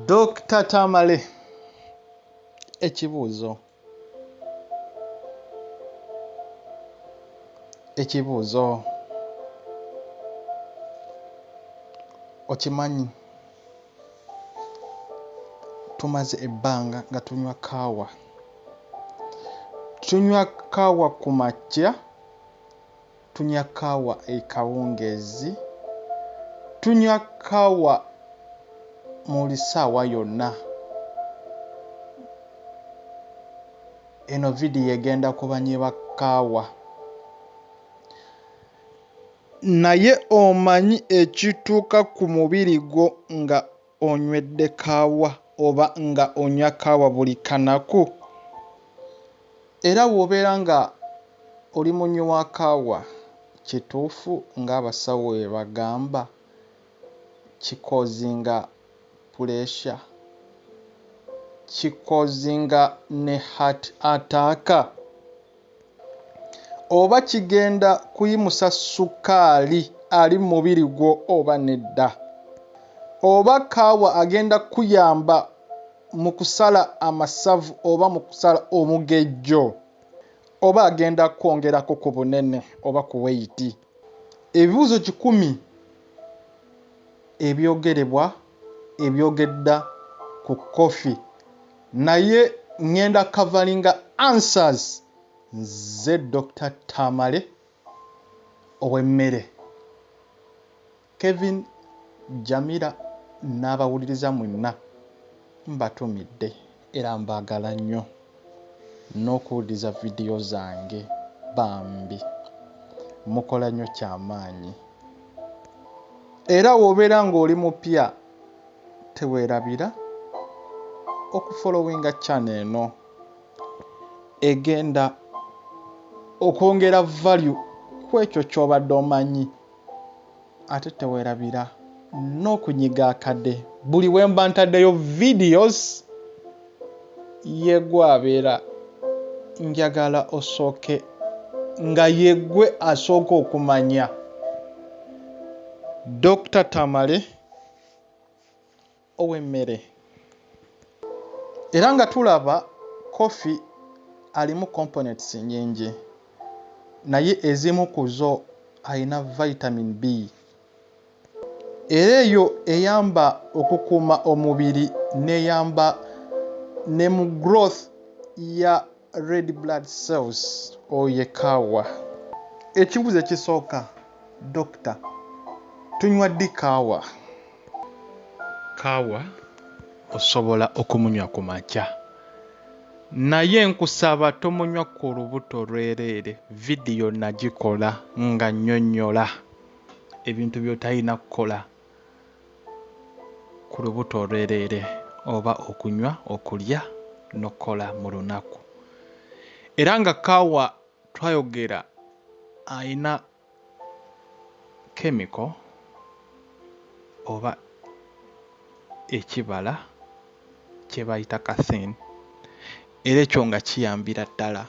Dokita Tamale, ekibuuzo ekibuuzo okimanyi tumaze ebbanga nga tunywa kaawa tunywa kaawa ku makya Tunywa kaawa ekawungeezi. Tunywa kaawa muli saawa yonna. Eno video egenda ku banyi ba kaawa. Naye omanyi ekituuka ku mubiri gwo nga. Onywedde kaawa oba nga onywa kaawa buli kanaku? Era wobeera nga oli munywi wa kaawa kituufu nga abasawo webagamba ki causinga pressure, ki causinga ne heart attack? oba kigenda kuyimusa ssukaali ali mu mubiri gwo oba nedda. Oba kaawa agenda kukuyamba mu kusala amasavu oba mu kusala omugejjo. Oba agenda kukwongerako ku bunene oba ku weyiti. Ebibuuzo kikumi ebyogerebwa. ebyogedda ku coffee naye ngenda coveringa answers nze Dokita Tamale owemmere Kevin Jamira n'abawuliriza mwenna mbatumidde. Era mbagala nnyo nokuwuliriza video zange bambi mukola nnyo kyamaanyi era wobeera nga oli mupya tewerabira okufolowinga channel eno egenda okwongera value kwekyo kyobadde omanyi. ate tewerabira n'okunyiga akade buli wemba ntaddeyo videos yegwabeera njagala osooke nga yegwe asooka okumanya Dokita Tamale ow'emmere era nga tulaba coffee alimu components nyingi naye ezimu ku zo alina vitamin B era eyo eyamba okukuuma omubiri n'eyamba ne mu growth ya red blood cells oyekaawa ekibuzo ekisooka doctor tunywa ddi kaawa kaawa osobola okumunywa ku makya naye nkusaba tomunywa ku lubuto lwereere vidiyo nagikola nga nyonyola ebintu byotalina kukola ku lubuto olwereere oba okunywa, okulya n'okukola mu lunaku. Era nga kaawa twayogera alina kemiko oba ekibala kye bayita caffeine era ekyo nga kiyambira ddala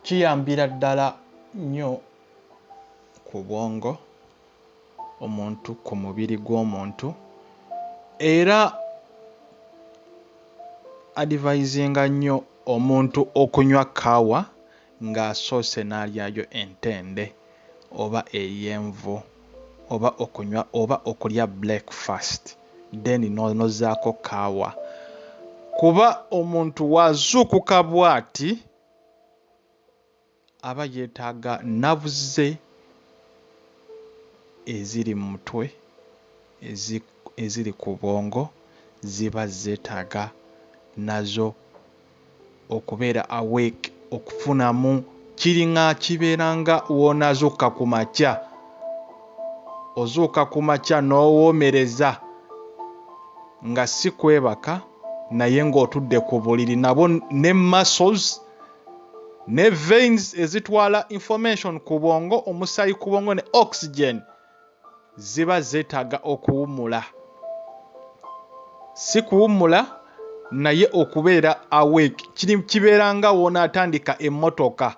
kiyambira ddala nnyo ku bwongo omuntu ku mubiri gw'omuntu era adivayizinga nnyo omuntu okunywa kaawa ng'asoose n'alyayo entende oba ey'envu oba okunywa oba okulya breakfast then n'ozzaako kaawa kuba omuntu w'azuukuka bw'ati. aba yetaaga navuze eziri mumutwe eziri kubwongo ziba zetaaga nazo okubeera awake okufunamu kiringa kibeera nga wonazuuka kumakya ozuuka kumakya nowomereza nga sikwebaka naye nga otudde kubuliri nabwo ne muscles ne veins ezitwala information ku bwongo omusayi ku bwongo ne oxygen ziba zetaga okuwumula si kuwumula naye okubeera awake kiri kibeera nga wona atandika emmotoka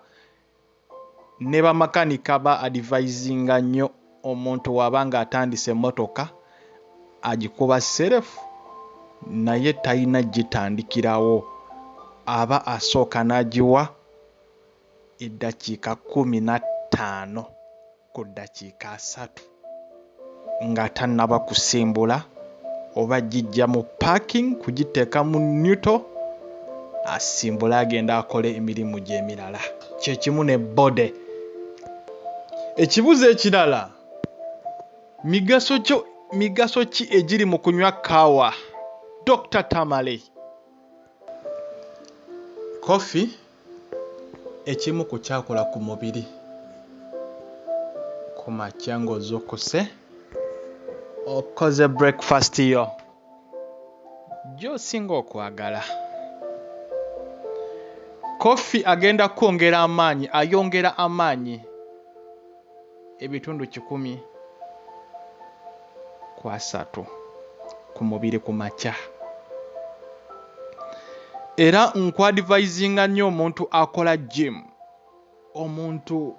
ne bamakanika ba advisinga nnyo omuntu waba nga atandise emotoka agikuba serefu naye talina gitandikirawo aba asooka nagiwa eddakiika kumi na ttaano ku ddakiika asatu nga tannaba kusimbula oba gijja mu parking kugiteeka mu newto asimbule agenda akole emirimu gye emirala kyekimu ne body. Ekibuzo ekirala, migaso ki egiri mu kunywa kaawa? Dokita Tamale. Kkofi ekimu ku kyakola ku mubiri ku makya ng'ozuukuse okoze breakfast yo. gy'osinga okwagala. Koffi agenda kwongera amaanyi ayongera amaanyi ebitundu kikumi ku asatu ku mubiri ku makya era nkwadivaizinga nnyo omuntu akola jimu omuntu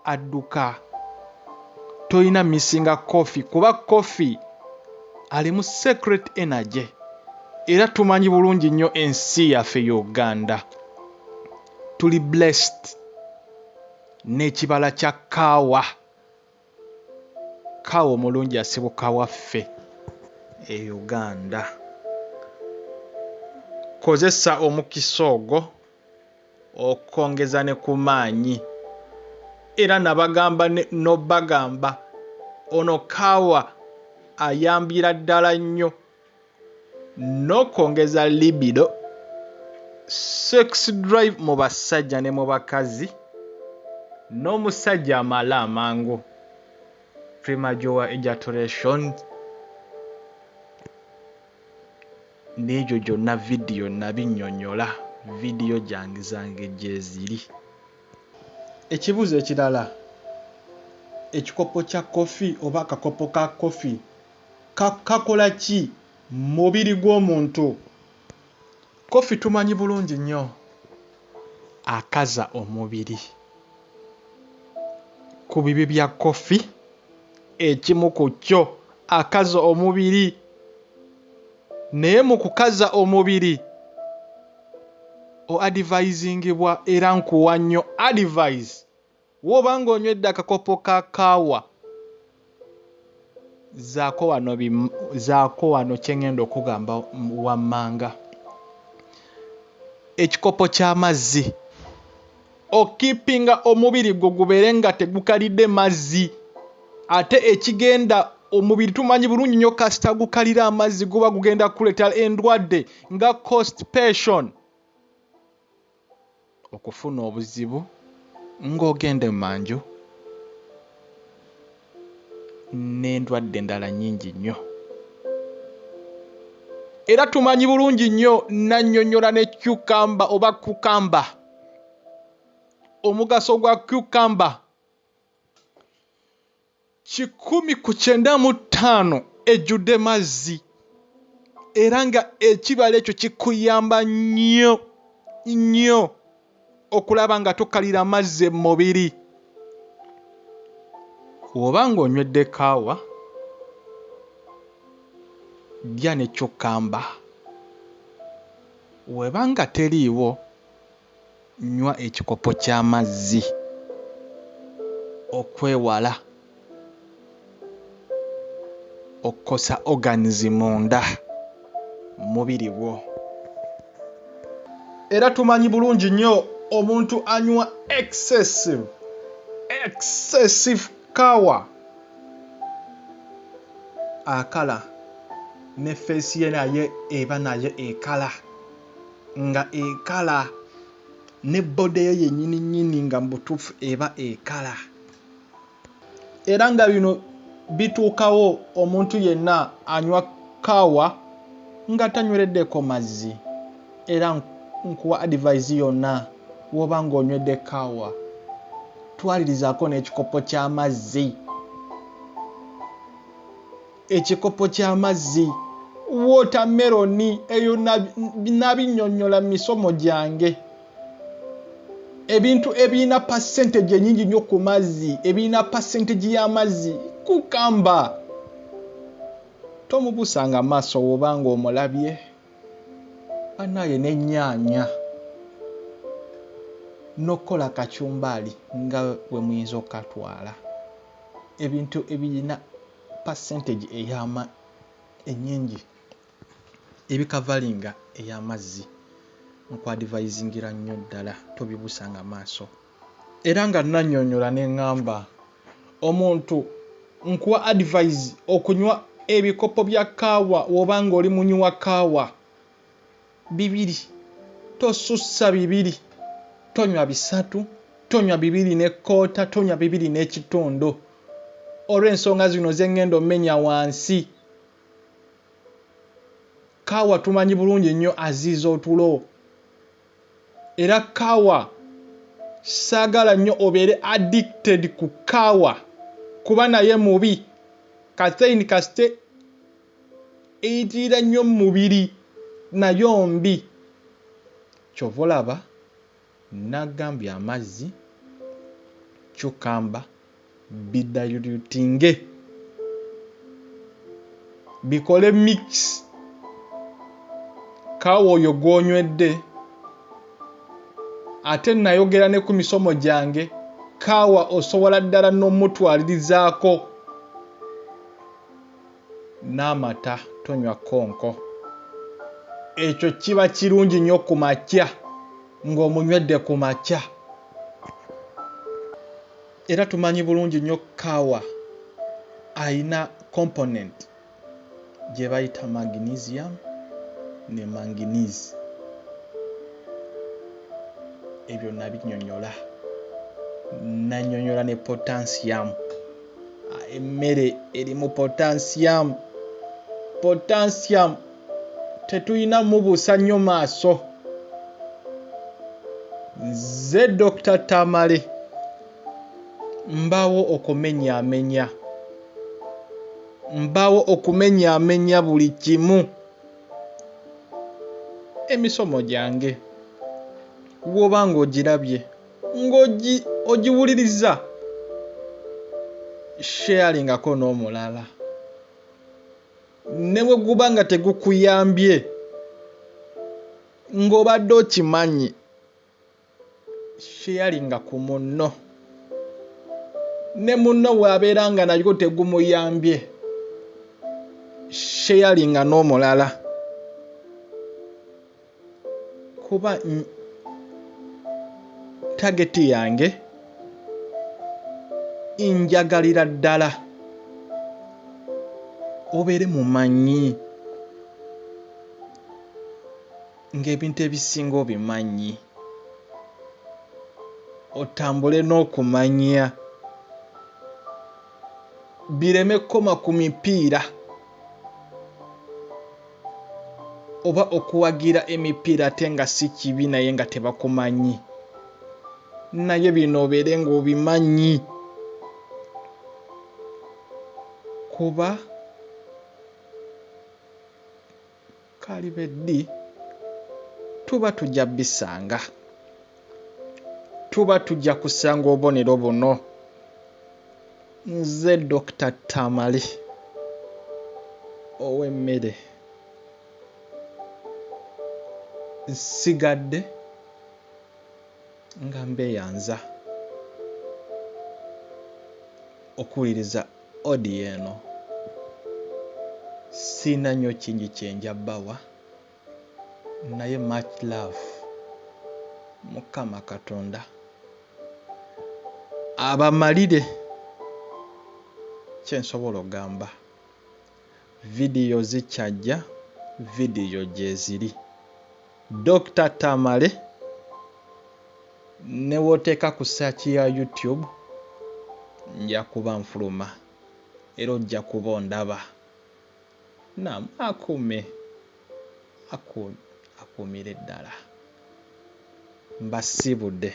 adduka tolina missinga coffee kuba coffee alimu secret energy era tumanyi bulungi nnyo ensi yaffe y'oganda tuli blessed n'ekibala kya kaawa Kawa omulungi asibuka waffe e Uganda. Kozesa omukisa ogwo okwongeza ne ku maanyi era nabagamba n'obagamba ono kaawa ayambira ddala nnyo. n'okwongeza libido, sex drive mu basajja ne mu bakazi, n'omusajja amale amangu, premature ejaculation, n'egyo gyonna vidiyo nabinnyonnyola, vidiyo gyange zange gyeziri. Ekibuuzo ekirala, ekikopo kya kkofi oba akakopo ka kkofi. kakola ki mumubiri gwomuntu? Coffee tumanyi bulungi nnyo akaza omubiri. Kubibi bya coffee ekimu ku kyo akaza omubiri naye mukukaza omubiri o advisingibwa era nkuwa nnyo advise. Woba nga onywedde akakopo ka kaawa zaako wano zaako wano kyengenda okugamba wammanga ekikopo ky'amazzi okipinga omubiri gwo gubeere nga tegukalidde mazzi ate ekigenda omubiri tumanyi bulungi nnyo kasita gukalira amazzi guba gugenda kuleeta endwadde nga constipation okufuna obuzibu ng'ogenda emanju n'endwadde endala nnyingi nnyo. Era tumanyi bulungi nnyo nannyonnyola ne cucumber oba cucumber omugaso gwa cucumber kikumi ku kyenda mu ttaano ejjudde mazzi era nga ekibala ekyo kikuyamba nnyo nnyo okulaba nga tokalira mazzi mu mubiri. Bw'oba ng'onywedde kaawa, lya ne cukkamba. Bw'eba nga teriiwo. Nywa ekikopo ky'amazzi okwewala okukosa organs munda mumubiri gwo. Era tumanyi bulungi nnyo omuntu anywa excessive, excessive kawa akala ne face ye nayo eba nayo ekala. nga ekala ne boda eyo yenyini nyini nga mubutuufu eba ekala era nga bino bituukawo omuntu yenna anywa kaawa nga tanywereddeko mazzi era nkuwa advise yonna woba nga onywedde kaawa twalirizaako n'ekikopo ky'amazzi ekikopo ky'amazzi, wootameroni, eyo nabinnyonnyola mu misomo gyange. Ebintu ebirina percentage enyingi nnyo ku mazzi, ebirina percentage y'amazzi, kukamba. Tomubuusanga maaso woba ng'omulabye. Banaye n'ennyaanya n'okukola kacumbaali nga bwe muyinza okukatwala ebintu ebirina percentage eyama enyingi ebi kavalinga eyamazzi nkwadivayizingira nnyo ddala tobibusanga maaso era nga nanyonyola nengamba omuntu nkuwa advise okunywa ebikopo bya kaawa wobanga oli munywi wa kaawa bibiri, tosussa bibiri, tonywa bisatu, tonywa bibiri ne koota, tonywa bibiri n'ekitundu. Olw'ensonga zino ze ngenda omenya wansi, kaawa tumanyi bulungi nnyo aziiza otulo era kaawa saagala nnyo obeere addicted ku kaawa kuba naye mubi. Kathein kasite eyitirira nnyo mu mubiri nayo mbi. Kyova olaba nagambye amazzi, cucumber bidayulyutinge bikole mix kaawa oyo gwonywedde ate nayogera ne ku misomo gyange kaawa osobola ddala n'omutwalirizaako. n'amata tonywa konko ekyo kiba kirungi nnyo ku makya ng'omunywedde ku makya era tumanyi bulungi nnyo kaawa alina component gye bayita magnesium ne manginese ebyo nabinyonyola nanyonyola ne potansiyamu emmere erimu potansiyaamu potansiyaamu tetulina mubuusa nnyo maaso nze dokita tamale mbaawo okumenyaamenya mbaawo okumenyaamenya buli kimu emisomo gyange woba ng'ogirabye ng'ogiwuliriza sharelingako n'omulala ne bwe guba nga tegukuyambye ng'obadde okimanyi sharinga ku munno ne munno bw'abeera nga nagwo tegumuyambye sharinga n'omulala kuba tageti yange njagalira ddala obeere mumanyi ng'ebintu ebisinga obimanyi otambule n'okumanya bireme kukoma ku mipiira oba okuwagira emipiira ate nga si kibi naye nga tebakumanyi naye bino obeere ng'obimanyi kuba Kalibe ddi tuba tujja bisanga. Tuba tujja kusanga obonero buno. Nze Dokita Tamale ow'emmere nsigadde. Nga mbeyanza okuwuliriza audio eno siina nyo kingi kyenja bawa naye much love mukama katonda abamalire kyensobola ogamba. video zikyajja video gyeziri Dokita Tamale newoteeka ku search ya YouTube nja kuba nfuluma era ojja kuba ondaba nam akume aku akuumire ddala mbasiibude.